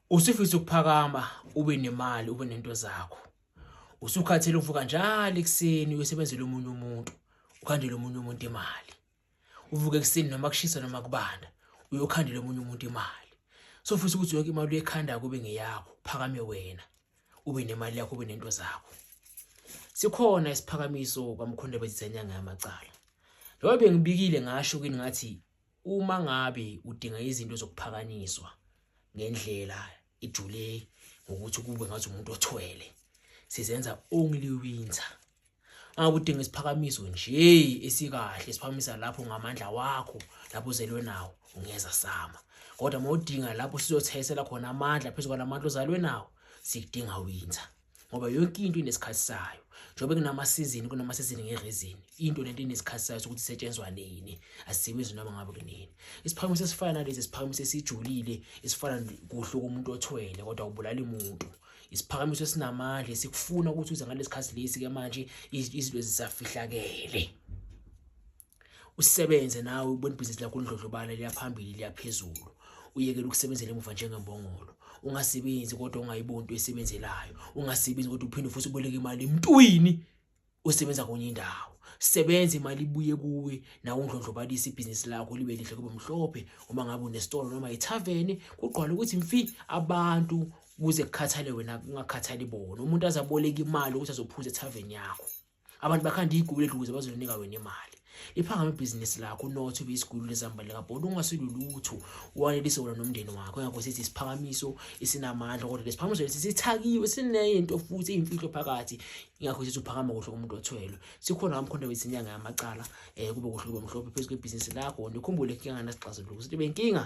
usifisa ukuphakama ube nemali ube nento zakho usukhathele uvuka njalo ekuseni uyosebenzela omunye umuntu ukhandele omunye umuntu imali uvuke ekuseni noma kushisa noma kubanda uyokhandela omunye umuntu imali sofisa ukuthi yonke imali uyekhanda kube ngeyakho phakame wena ube nemali yakho ube nento zakho sikhona isiphakamiso kwamkhonde bezizanyanga yamacala njengoba bengibikile ngasho kini ngathi Uma ngabe udinga izinto zokuphakanyiswa ngendlela ijule ngokuthi kube ngathi umuntu othwele sizenza only winter angakudinga isiphakamiso nje esikahle siphakamisa lapho ngamandla wakho lapho uzelwe nawo ungeza sama kodwa mawudinga lapho sizothayisela khona amandla phezulu kwalamandla ozalwe nawo sikudinga winter ngoba yonke into inesikhathi sayo njengoba kunamasizini kunamasizini ngerezini into lento inesikhathi sayo sokuthi isetshenzwa nini asisebenzi noma ngabe kunini isiphakamiso esifana nalesi isiphakamiso esijulile esifana kuhle komuntu othwele kodwa ubulala umuntu isiphakamiso esinamandla esikufuna ukuthi uze ngalesi khathi lesi-ke manje izinto zisafihlakele usebenze nawe ubona ibhizinisi lakho lindlodlobala liyaphambili liyaphezulu uyekele ukusebenzela emuva njengembongolo ungasebenzi kodwa ungayiboni into esebenzelayo ungasebenzi kodwa uphinde futhi uboleke imali emntwini osebenza konye indawo sebenza imali ibuye kuwe nawe undlondlobalisa ibhizinisi lakho libe lihle kube mhlophe uma ngabe unesitolo noma ithaveni kugqwala ukuthi mfi abantu kuze kukhathale wena kungakhathali bona umuntu azaboleka imali ukuthi azophuza ethaveni yakho abantu bakhanda igulu eduze bazolinika wena imali liphangama ibhizinisi lakho unotho ube isigulu lezambane likabhodi ungasilulutho wanelise wona nomndeni wakho ngakho sithi isiphakamiso esinamandla kodwa lesiphakamiso lesi sithakiwe sineyinto futhi iyimfihlo phakathi ingakho sithi uphakama kuhle umuntu othwelwe sikhona kamkhonto wethi inyanga yamacala um kube kuhle kube mhlophe phezu kwebhizinisi lakho nikhumbule inkinga ngasixazuluko sithi benkinga